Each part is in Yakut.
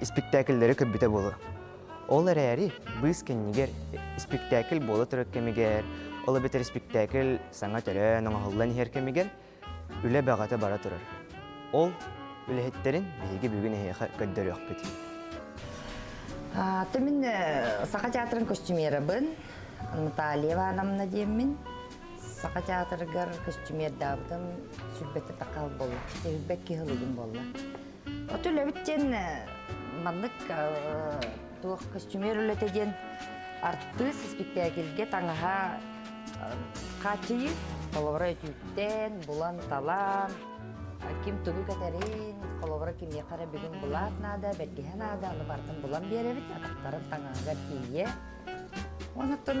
испиктээкиллэри көрбүтэ буолуо. Ол эрээри быыс кэннигэр испиктээкил буола турар кэмигэр, ол эбэтэр испиктээкил саҥа төрөөн оҥоһуллан иһэр кэмигэр үлэ бөҕөтө бара турар. Ол үлэһиттэрин биһиги бүгүн эһиэхэ көрдөрүөхпүт. Ты мин саха театрын костюмерабын Наталья Ивановна диэммин саха театрыгар костюмердаабытым сүрбэтэ такаал болла сүрбэт киһи булугум болла Оту үлэбит диэн маннык туох көстүмүөр үлэтэ диэн артыыс испиктээкилгэ таҥаһа хааччыйыы холобура өтүүттэн булан талаан ким тугу кэтэрин холобура кимиэхэ эрэ бүгүн булаат наада бэргэһэ наада аны бартын булан биэрэбит атахтарын таҥаһыгар тиийэ онтон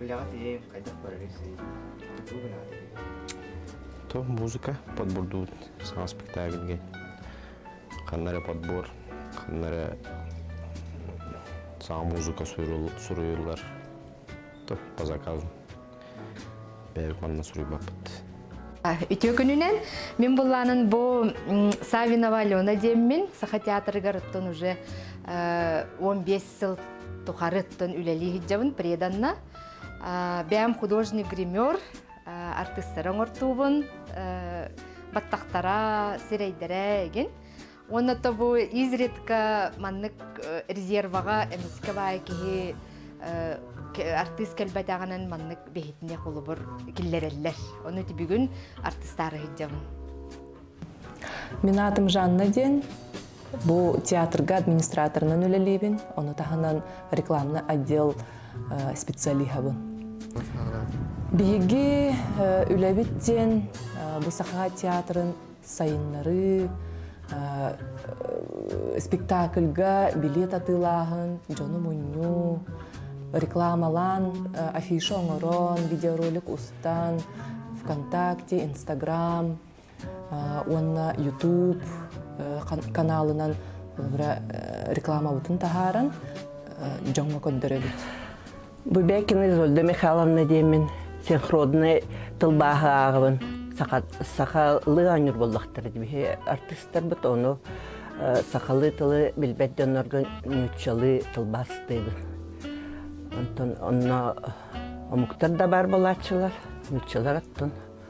Үлэҕэ тиийэн хайдах барарый сый? Хантуу гынаатый? То музыка подбурдуут саҥа спектакльге. Ханна эрэ подбор, ханна эрэ саҥа музыка суруйуллар. То по заказу. Бэйэбит манна суруйбаппыт. Үтүө күнүнэн мин булланын бу Савинова Алена деммин саха театрыгар оттон уже 15 сыл тухары тон үлэлии сылдьабын преданна бэм художник гример артыстары оҥортуубун баттахтара сирэйдэрэ эгин уонна тобу изредка маннык резерваҕа эмискэ баай киһи артыыс кэлбэтэҕинэн маннык бэһитине холобур киллэрэллэр ону тибүгүн артыстаары сылдьабын Мен атым Жанна диэн. Бу театрга администраторынан үлэлиибин. Ону таһынан рекламный отдел э, специалиһабын. Биһиги э, үлэбит диэн э, бу саха театрын сайыннарыы, спектакльга билет атыылааһын, дьону мунньуу, рекламалаан афиша оҥорон, видеоролик устан, ВКонтакте, Инстаграм уонна YouTube каналынан рекламабытын таһааран дьоҥҥо көрдөрөбүт. Бубекина Изольда Михайловна диэмин синхронный тылбааһы ааҕыбын. Сахалыы оонньуур боллохтор биһи артыыстарбыт ону сахалыы тылы билбэт дьоннорго нууччалыы тылбаастыыбын. Онтон онно омуктар да баар болааччылар, нууччалар оттон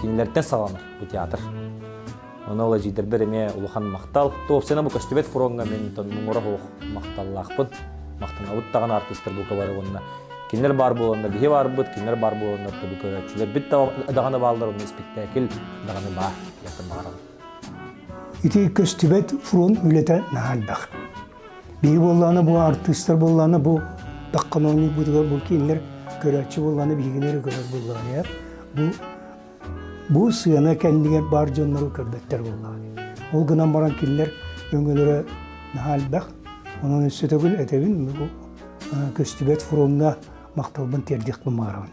Кинилэртэн саҕана бу театр. Оны ол эдьиийдэрбэр эмиэ улахан махтал. Туопсана бу көстүбэт фроҥҥа мин муҥура суох махталлаахпын. Махтанабыт даҕаны артыыстар бука бары уонна кинилэр баар буоланнар биһи баарбыт, кинилэр баар буоланнар төбө көрөөччүлэрбит даҕаны бааллар, онно испэктээкил даҕаны баар. Ити көстүбэт фронт үлэтэ наһаа элбэх. Биһи буоллаҕына бу артыыстар буоллаҕына бу таккамоонньук быытыгар бұл кинилэр көрөөччү буоллаҕына биһигилэри көрөр буоллаҕына бу бу сыана кэннигэр баар дьоннору көрбөттөр буоллаҕына ол гынан баран кинилэр өҥөлөрө наһаа элбэх онон өссө төгүл этэбин көстүбэт фроҥҥа махталбын тиэрдиэхпин баҕарабын